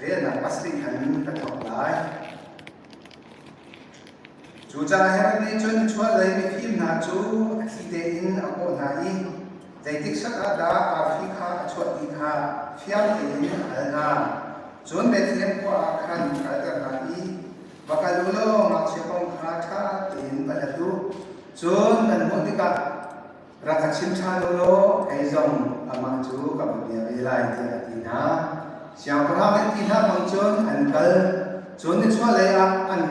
riannak pas ding khan ka thawk lai. Cu caah Herod nih cun chuahlei mifim hna cu a thli tein a kawh hna i zeitik sak ah dah arfi kha a chuah ti kha fiang tein a hal hna. Cun Bethlehem khua ah khan kalter hna i va kal u law ngakchia kong kha ṭha tein va hlat u. Cun kan hmuh tikah rak ka chim ṭhan lawlaw kei zong amah cu ka va bia ve lai tiah a ti hna. Siangpahrang an ti hlah bang cun an kal cun nichuahlei ah an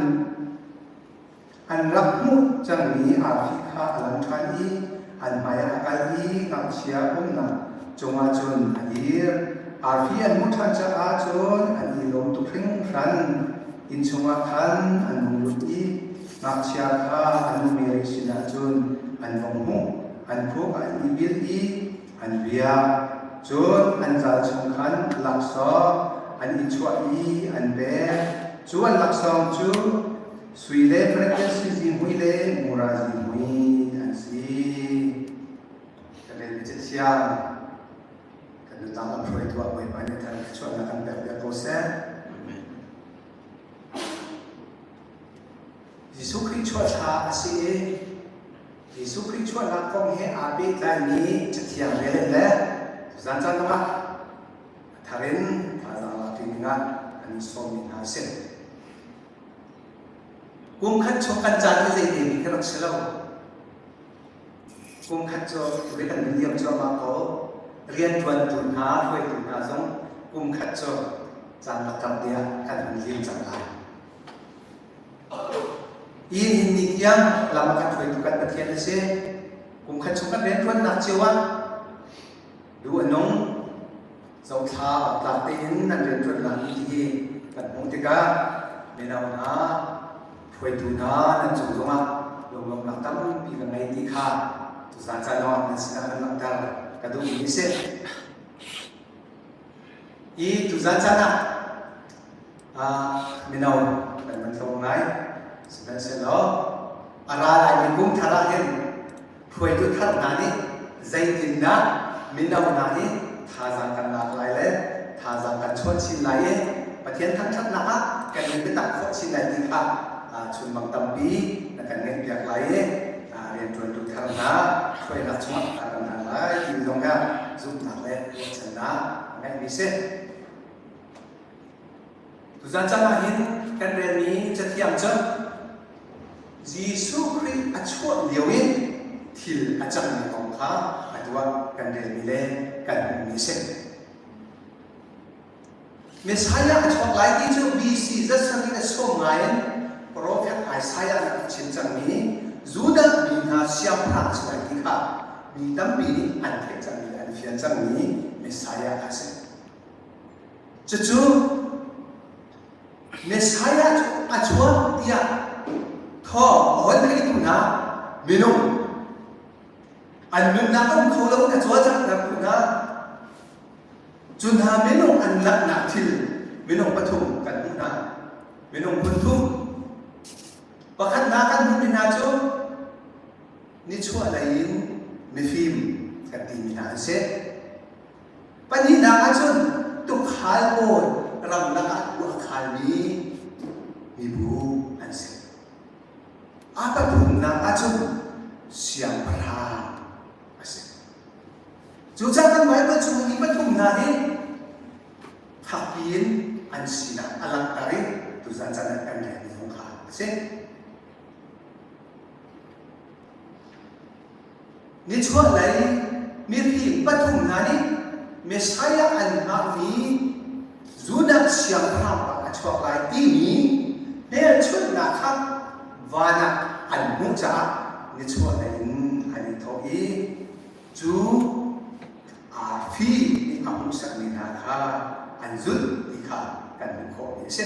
an rak hmuh cangmi arfi kha a lang ṭhan i an hmaiah a kal i ngakchia umnak cungah cun a dir. Arfi an hmuh ṭhan caah cun an i lawm tuk hringhran. Inn chungah khan an hung lut i Ngakchia kha an nuperi sinah cun an vong hmuh, an khuk an ibil i an biak. Cun an zal chung khan laksawng an i chuah i an pek. Cu an laksawng cu sui le frekel sizi mui le mura zi mui an si. Ka vel i siang kan nutang am hruai tuah Bawipa nih khan thluachuahnak kan pek ve ko seh. Jesuh Khrih chuahṭha a si i Jesuh Khrih chuahnak kong he aa pehtlaimi Cathiang rel in le zancaan zongah a thar in thazaang lak ding dingah an i sawmmi hna a si. Kum khat chung kan caan hi zeidemi ka rak si lo. Kum khat cu ri kan in liam cuahmah ko. Rianṭuantu hna, hruaitu hna zong kum khat cu caan lakkap nih ah kan hun liam cang lai. Hi nunning tiang lam kan hruaitu kan Pathian a si. Kum khat chung kan rianṭuannak cio ah lu a nung, zothla tlak tein an rianṭuan lami hi kan hmuh tikah mino hna, hruaitu hna nan cung zongah lunglawmhnak tampi kan ngei ti kha tuzacanawng nan sinah kan langhter ka duhmi a si. Hi tuzan caan ah mino kan van tlung lai sihmanhsehlaw a ra laimi kum thar ah hin hruaitu thar hna nih zeitindah mino hna nih thazaang kan lak lai le thazaang kan chuan chin lai i Pathian thangṭhatnak ah kan nun biatak khawh chin lai ti kha chunmang tampi na kan ngaihpiak lai i rianṭuantu thar hna hruainak chungah a kan hal lai ti zong kha zumhnak le ruahchannak a ngeihmi si. Tuchan ah hin kan relmi cathiang cu Jesuh Khrih a chuah lio in thil a cangmi kong kha atu ah kan relmi le kan hmuhmi a si. Messiah a chuak lai ti cu BC zat sakin a sawm ngai in profet Isaiah nih a rak chim cangmi Judah mi hna siangpahrang chuah ti kha mi tampi nih an theih cangmi, an fian cangmi Messiah kha a si. Cucu Messiah cu a chuak tiah thawng a von theih hnu hna minung an nunnak a um kho lo in a cawlcanghter hnu hna cu hna minung an langhnak thil minung pathum kan hmuh hna minung hmun thum pakhatnak kan hmuhmi hna cu nichuah lei in mifim kan timi hna an si Pahnihnak ahcun tukhal pawi ramlak ah tuah a khalmi mibu an si. A pathumnak ahcun siangpahrang a si. Cucaah kan Baibal chung mi pathum hna hi fakpi in an sinak a langhter i tuzan can ah kan relmi zong kha a si. Nichuah lei mifim pathum hna nih Messiah an hngakmi Judah siangpahrang bang a chuak lai timi hmelchunhnak kha van ah an hmuh caah nichuah lei in an i thawh i cu aa fi nih a hmuh sakmi hna kha an zulh ti kha kan hmuh khawh mi a si.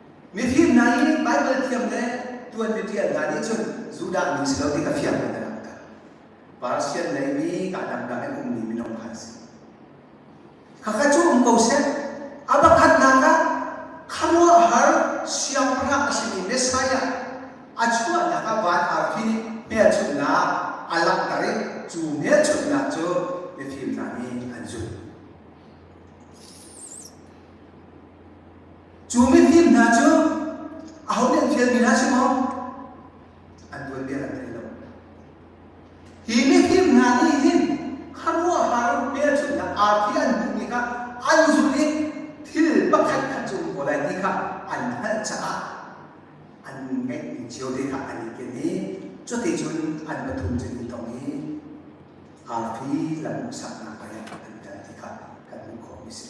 Mifim hna i Baibal thiam le ṭuanmi ṭial hna nih cun Judah mi si lo ti kha fiang in a langhter. Parasian leimi kaa dangdang in ummi minung kha a si. Khakha cu um ko seh. A pakhatnak ah khuaruahhar siangpahrang a simi Messiah a chuahnak ah van arfi nih hmelchunhnak a langhter i cu hmelchunhnak cu mifim hna nih an zulh. Cu mifim hna cu ahonih an fialmi hna si maw? An tuanbia an thei lo. Hi mifim hna nih hin khuaruahhar hmelchunhnak arfi an hmuhmi kha an zulh i thil pakhat khat cu um ko lai ti kha an hngalh caah an ngeihmi cio te kha an i ken i cuticun an pathum cu i tong i arfi lam hmuhsaknak hmai ah an kal ti kha kan hmuh khawhmi a si.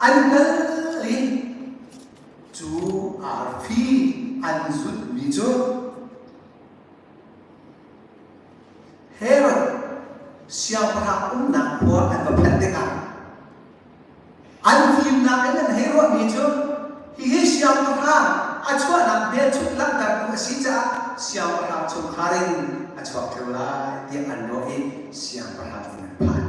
An kal i cu arfi an zulhmi cu Herod siangpahrang umnak khua an va phanh tikah an fimnak in an hei ruahmi cu hihi siangpahrang a chuahnak hmelchunh langhtertu a si caah siangpahrang chungkhar in a chuak ṭheo lai tiah an ruah i siangpahrang nih an phanh.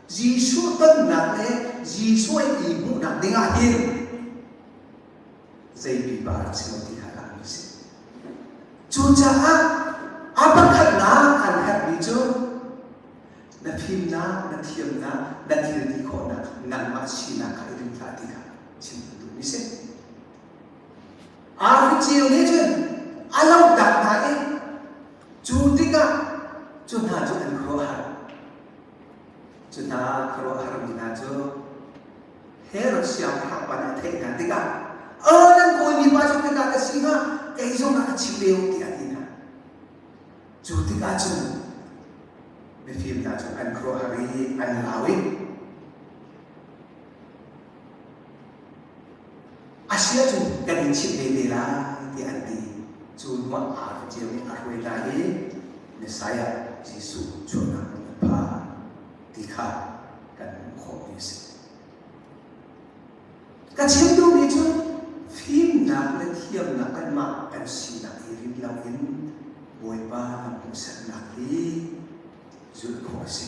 Jesuh tonnak le Jesuh i hmuhnak ding ah hin zei pipa dah si lo ti kha langmi si. Cucaah a pakhatnak an herhmi cu na fimnak, na thiamnak, na thilti khawhnak, nganmah sinak kha i ring hlah ti kha chim kan duhmi si. Aricio nih cun a lohtak hna i cu tikah cu hna cu an khuahar. Cuhna khuaruahharmi hna cu Herod siangpahrang pa nih a theih hna tikah a nan kawimi pa cu khika ka si hnga kei zong ah ka chim ve u tiah a ti hna. Cu tikah cun mifim hna cu an khuaruahhar i an lau i A si ahcun kan in chimh vete lai tiah an ti. Cu hnuah aa ficeu i a hruai hna i Messiah Jesuh sualnak in a pha ti kha kan hmuh khawhmi a si. Ka chim duh nih cun fimnak le thiamnak kanmah kan sinak i rit loin Bawipa lam hmuhsaknak hi zulh khawh a si.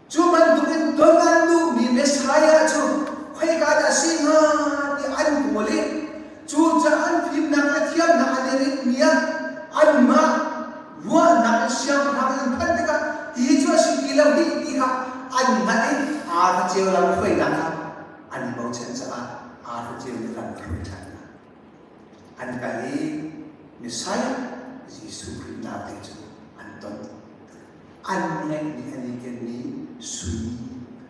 Cu bantukin dawt an duhmi Messiah cu khoika dah a si hnga ti an kawl i cucaah an fimnak le thiamnak a liritmi ah anmah ruahnak in siangpahrang in phanh tikah ti cu a si ti lo dih ti kha an ngaih i aa hlaceu lo hruainak kha an i bochan caah aa hlaceu le lam kha hruai ṭhan hna. An kal i Messiah Jesuh Khrih naak ding cu an ton. an ngeihmi an i kenmi sui,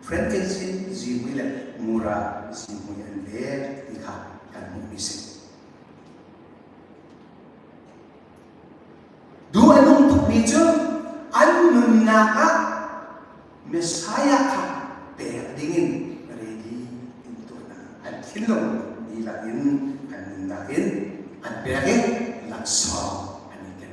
frankincense zihmui le mura zihmui an vet ti kha kan hmuhmi si. Duh a nung tukmi cu an nunnak ah Messiah kha pek dingin ready in turnak an thinlung dihlak in kan nunnak in an pek i laksawng an i ken.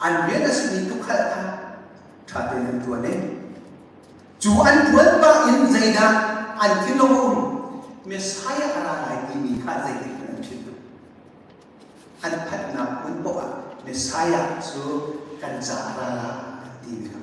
An rian a simi tukhal kha ṭha tein an ṭuan i cu an ṭuan pah in zeidah an thinlung Messiah a ra lai timi kha zeitik in an philh an phanhnak hmun poah Messiah cu kan caah a ra lai an timi kha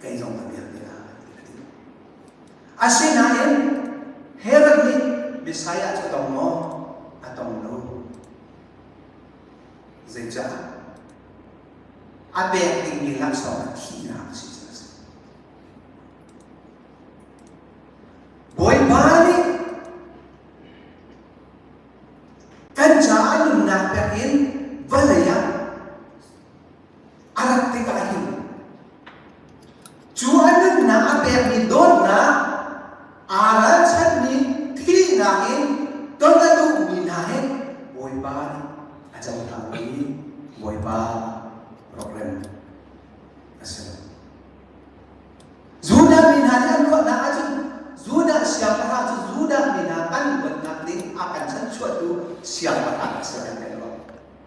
kei zong ka vialte ka ka ti. Asinain Herod nih Messiah cu tong maw? A tong lo. Zeicah? A pek dingmi laksawng thihnak a si cu a si. Bawipa nih kan caah nunnak pek in vawlei ah a rat tik ahhin cu a nunnak a pekmi dawtnak aa ralchanmi thihnak in ton a duhmi hna hi Bawipa nih a cohlangmi Bawipa rokrem a si lo. Judah mi hna nih an ruahnak ahcun Judah siangpahrang cu Judah mi hna kan luatnak ding a kan chanchuahtu siangpahrang a si kan kan ruah.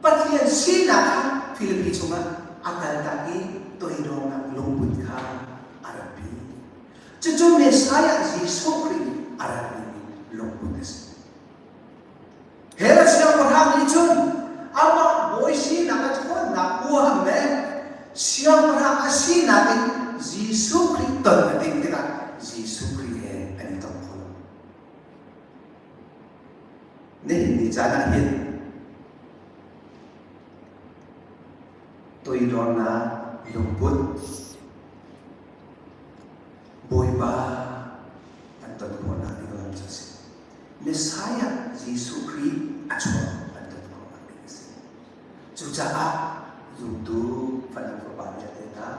Pathian sinak kha Filipi chungah a kaltak i toidornak lungput kha a ratpi. Cucu Messiah Jesuh Khrih a ratmi lungput a si. Herod siangpahrang nih cun amah bawi sinak a ṭhawnnak ohan le siangpahrang a sinak in Jesuh Khrih ton a ding tikah Jesuh Khrih he an i tong kho. Nihin ni caan ah hin toidornak lungput, Bawipa an ton khawhnak ding ram cu a si. Messiah Jesuh Khrih a chuak an ton khawhnak ding a si. Cucaah zumtu Fanang Fapa nih a lehnak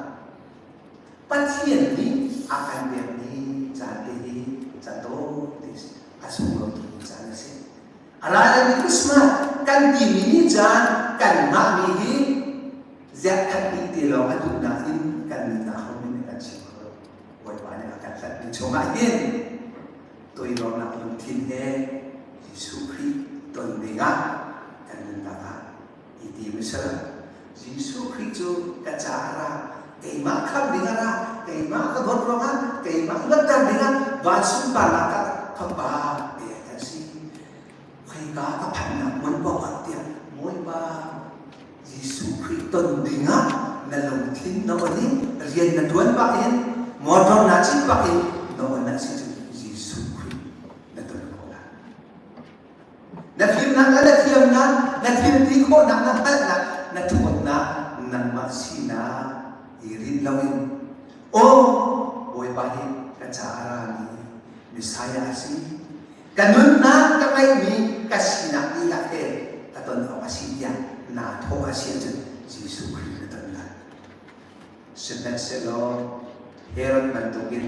Pathian nih a kan biakmi caan te hi cato ti a sung lo timi caan a si. A lai mi Christmas kan timi ni caan kanmah mi hi ziah khat dih ti lo a duhnak in kan nunnak hom in a kan chim kho Bawipa nih a kan hlatmi chungah hin toidornak lungthin he Jesuh Khrih ton dingah kan nunnak ah i ti hmasa. Jesuh Khrih cu ka ca a ra, keimah kham ding a ra, keimah ka dawt ruangah, keimah luatter dingah, va sunparnak ka fapa tiah a si. Khoika ka phannak muan awkah tiah Bawipa Jesuh Khrih ton dingah na lungthin na on i rian na tuan bak in motor na cit bak in na on a si cu Jesuh Khrih na ton khawh lai. Na fimnak le na thiamnak, na thilti khawhnak, na hngalhnak, na ṭhawnnak nangmah sinak i rinh loin, Aw Bawipa hi ka ca a rami Messiah a si. Ka nunnak ka ngeihmi ka sinak dihlak he ka ton awk a si tiah naa thawh a si ahcun Jesuh Khrih na ton lai. Sihmanhsehlaw Herod bantukin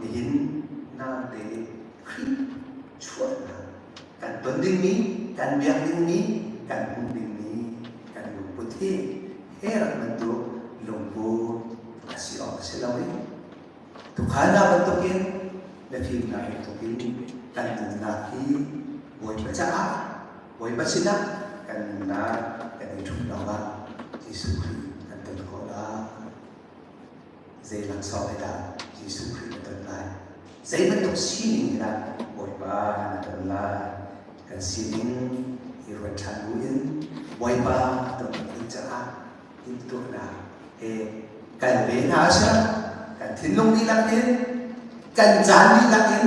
Nihin nate in Khrih chuahnak kan ton dingmi, kan biak dingmi, kan hmuh dingmi kan lungput hi he rak bantuk lungput a si awk a si lo i tukhalnak bantukin mifimnak bantukin kan nunnak hi Bawipa caah Bawipa sinah kan nunnak kan i ṭhum lawngah Jesuh Khrih kan ton khawh lai. Zei laksawng he dah Jesuh Khrih na ton lai? Zei bantuk sining he dah Bawipa na ton lai? Kan sining i ruat ṭhan buin Bawipa a ton ding caah timhtuahnak he kan ven hna a si. Kan thinlung dihlak in, kan caan dihlak in